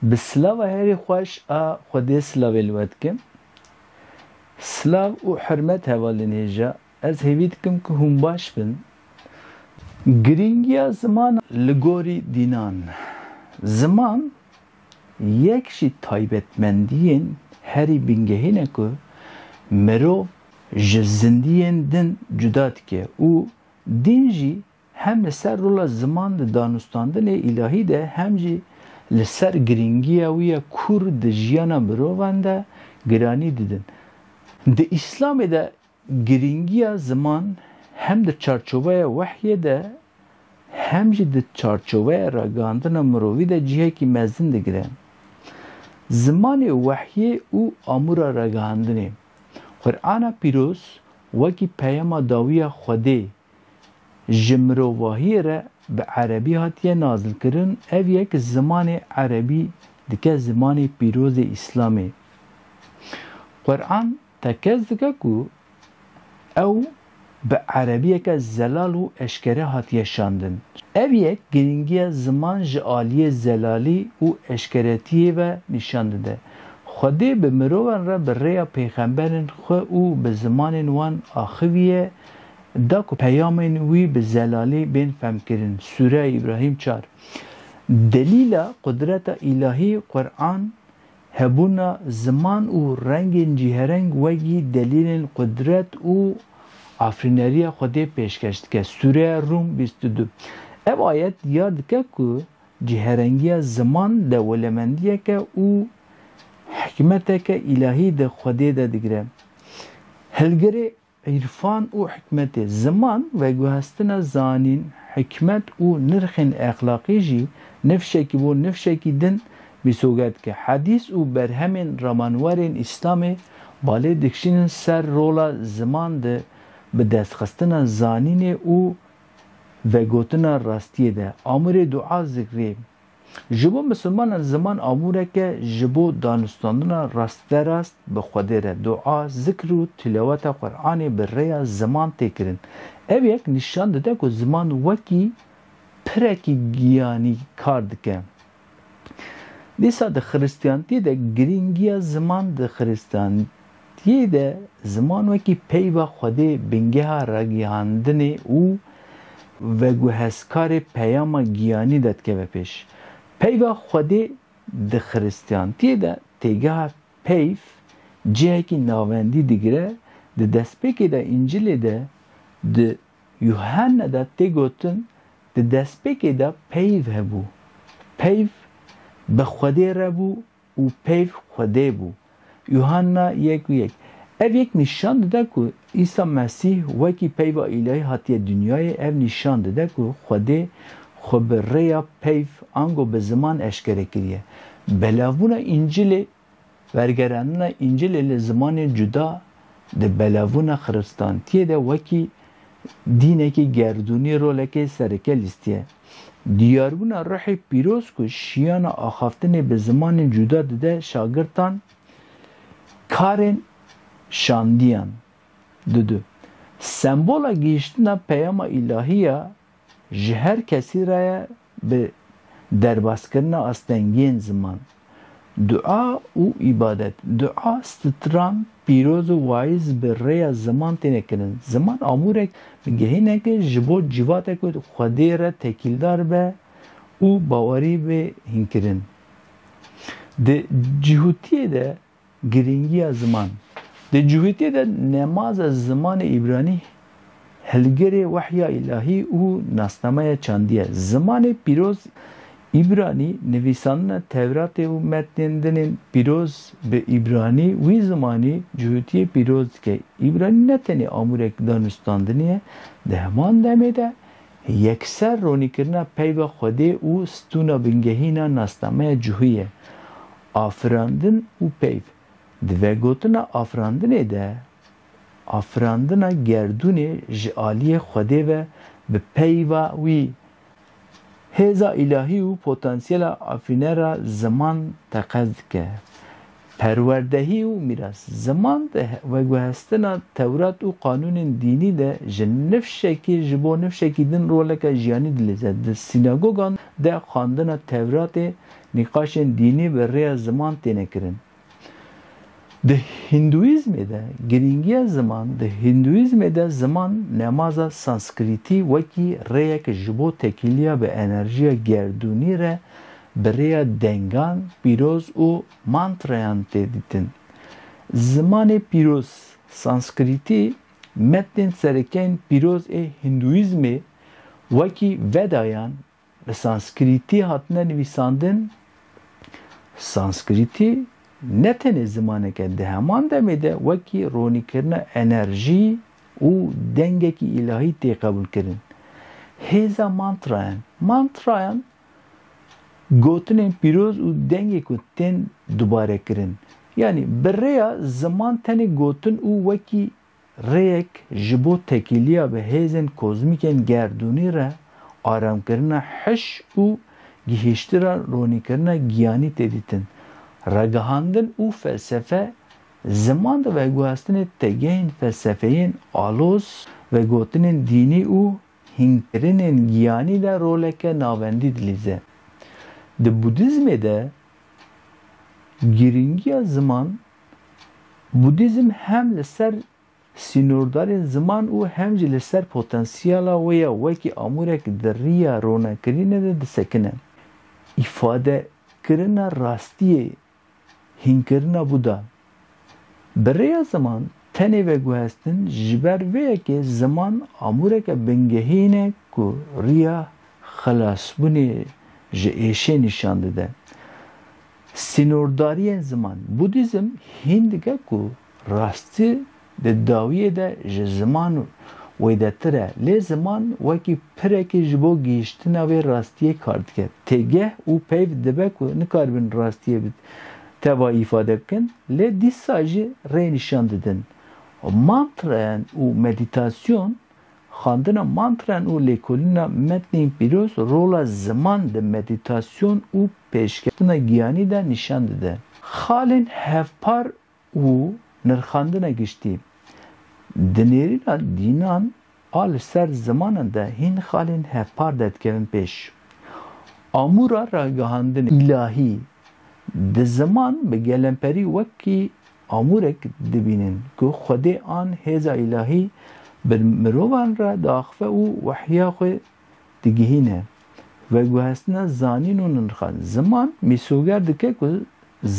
Bi silava herî xweş a Xwedê silavê li we dikim. Silav û hurmet hevalên hêja. Ez hêvî dikim ku hûn baş bin. Girîngiya ziman li gorî dînan. Ziman yek jî taybetmendiyên herî bingehîn e ku mirov ji zindiyên din cuda dike û dîn jî Hem li ser rola ziman di danûstandinê îlahî de hem jî li ser girîngiya wî ya kûr di jiyana mirovan de giranî didin. Di Îslamê de girîngiya ziman hem di çarçoveya wehyê de hem jî di çarçoveya ragihandina mirovî de cihekî mezin digire. Zimanê wehyê û amûra ragihandinê. Qur'ana Pîroz wekî peyama dawî ya Xwedê ji mirovahiyê re bi erebî hatiye nazilkirin, ev yek zimanê erebî dike zimanê pîrozê îslamê. Quran tekez dike ku ew bi erebiyeke zelal û eşkere hatiye şandin. Ev yek girîngiya ziman ji aliyê zelalî û eşkeretiyê ve nîşan dide. Xwedê bi mirovan re bi rêya pêxemberên xwe û bi zimanên wan axiviye, Da ku peyamên wî bi zelalî bên femkirin, Sûreya Îbrahîm çar. Delîla qudreta îlahî, Quran, hebûna ziman û rengên cîhereng wegî delîlên qudret û afirîneriya Xwedê pêşkeş dike, Sûreya Rûm bîst û du. Ev ayet diyar dike ku cîherengiya ziman dewolemendiyeke û hikmeteke îlahî di Xwedê de digire. Hilgirê Îrfan û hikmetê ziman, veguhestina zanîn, hikmet û nirxên exlaqî jî nifşekî bo nifşekî din bîsoge dike. Hedîs û berhemên ramanwerên Îslamê balê dikişînin ser rola ziman di bidestxistina zanînê û vegotina rastiyê de. Amûrê dua zikrê Ji bo misilmanan ziman amûrek e ji bo danûstandina rastberast bi Xwedê re, dua, zikr û tilaweta Quranê bi rêya ziman tê kirin. Ev yek nîşan dide ku ziman wekî pirekî giyanî kar dike. Dîsa di xiristiyantiyê de girîngiya ziman di xiristiyantiyê Di yê de ziman wekî peyva Xwedê bingeha ragihandinê û veguhezkarê peyama giyanî de dikeve pêş. Peyva Xwedê di xiristiyantiyê de têgeha peyv cihekî navendî digire, di destpêkê de Încilê de di Yuhanne de tê gotin, Di destpêkê de peyv hebû. Peyv bi Xwedê re bû û peyv Xwedê bû. Yuhanna yek û yek. Ev yek nîşan dide ku Îsa Mesîh wekî peyva îlahî hatiye dinyayê, ev nîşan dide ku Xwedê xwe bi rêya peyv ango bi ziman eşkere kiriye. Belavbûna Încilê Wergerandina Încilê li zimanên cuda di belavbûna xiristantiyê de wekî Dînekî gerdûnî rolekê sereke lîstî ye. Diyarbûna ruhê pîroz ku şiyana axaftinê bi zimanên cuda dide şagirtan karên şandîyan didu. Sembola gihîştina peyama îlahî ya ji her kesî re ye Bi derbaskirina astengiyên ziman, dua û îbadet. Dua stran pîroz û waiz bi rêya ziman têne kirin. Ziman amûrek bi gehinek e ji bo civate ku Xwedê re tekîldar be û bawerî bê hînkirin. Di cihûtiyê de Girîngiya ziman Di civîtê de nemaza zimanê îbranî hilgirê wehya îlahî û nasnameya çandî ye. Zimanê pîroz îbranî nivîsandina Tewratê û metnên din ên pîroz bi îbranî wî zimanî civîtiyê pîroz dike. Îbranî ne tenê amûrek danûstandinê ye, di heman demê de yekser ronîkirina peyva Xwedê û stûna bingehîna nasnameya cihû ye. Afirandin û peyv, di vegotina afirandinê de afirandina gerdûnê ji aliyê Xwedê ve bi peyva wî, hêza îlahî û potansiyela afirînera ziman teqez dike. Perwerdehî û mîras, ziman di veguhestina tewrat û qanûnên dînî de ji nifşekî ji bo nifşekî din roleke jiyanî dilîze. Di sînagogan de xwendina tewratê Nîqaşên dînî bi rêya ziman têne kirin. Di Hîndûîzmê de girîngiya ziman Di Hîndûîzmê de ziman nemaza Sanskrîtî wekî rêyek ji bo tekîliya bi enerjiya gerdûnî re bi rêya dengan pîroz û mantrayan tê dîtin. Zimanê pîroz, Sanskrîtî, metnên serekeyên pîroz ê Hîndûîzmê wekî Vedayan Bi sanskrîtî hatine nivîsandin, sanskrîtî ne tenê zimanek e, di heman demê de wekî ronîkirina enerjî û dengekî îlahî tê qebûlkirin. Hêza mantrayan, mantrayan gotinên pîroz û dengê ku tên dubarekirin. Yanî bi rêya ziman tenê gotin û wekî rêyek ji bo tekîliya bi hêzên kozmîkên gerdûnî re aramkirina hiş û gihîştira ronîkirina giyanî tê dîtin. Ragihandin û felsefe ziman di veguhestinê têgehên felsefeyên aloz, vegotinên dînî û hînkirinên giyanî de roleke navendî dilîze. Di Budîzmê de girîngiya ziman Budîzm hem li ser sînordarên ziman û hem jî li ser potensiyala wê ya wekî amûrek di riya ronekirinê de disekine. Îfadekirina rastiyê, hînkirina Buda. Bi rêya ziman tenê veguhestin ji ber vê yekê ziman amûreke bingehîn e ku riya xelasbûnê ji êşê nîşan dide. Sînordariyên ziman, Budîzm hîn dike ku rastî di dawiyê de ji ziman wêdetir e, lê ziman wekî pirekî ji bo gihîştina vê rastiyê kar dike. Têgeh û peyv dibe ku nikaribin rastiyê bi tevayî îfade bikin, lê dîsa jî rê nîşan didin. Mantrayan û medîtasyon Xwendina mantren û lêkolîna metnên pîroz rola ziman di medîtasyon û pêşketina giyanî de nîşan dide. Xalên hevpar û nirxandina giştî Di nêrîna dînan a li ser zimanan de hîn xalên hevpar de dikevin pêş. Amûra ragihandinê îlahî di ziman bi gelemperî wekî Amûrek dibînin ku Xwedê an hêza îlahî bi mirovan re diaxive û wehya xwe digihîne. Veguhestina zanîn û nirxa ziman mîsoger dike ku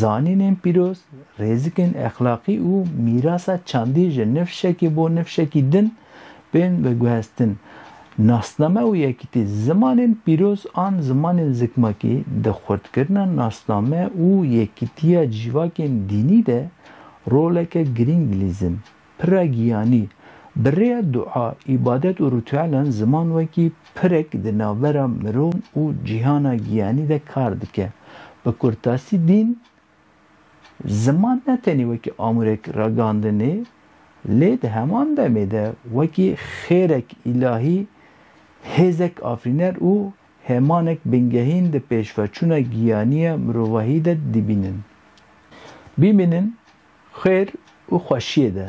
zanînên pîroz, rêzikên exlaqî û mîrasa çandî ji nifşekî bo nifşekî din Bên veguhestin, Nasname û yekîtî, Zimanên pîroz an zimanên zikmakî di xurtkirina nasname û yekîtiya cîvakên dînî de roleke girîng lîzin. Pira giyanî, Bi rêya dua, îbadet û rîtuelan ziman wekî pirek di navbera miron û cîhana giyanî de kar dike. Bi kurtasî dîn Ziman ne tenê wekî amûrek ragandinê lê di heman demê de wekî xêrek îlahî, hêzek afirîner û hêmanek bingehîn di pêşveçûna giyanîya mirovahî de dibînin. Bimînin xêr û xweşîyê de.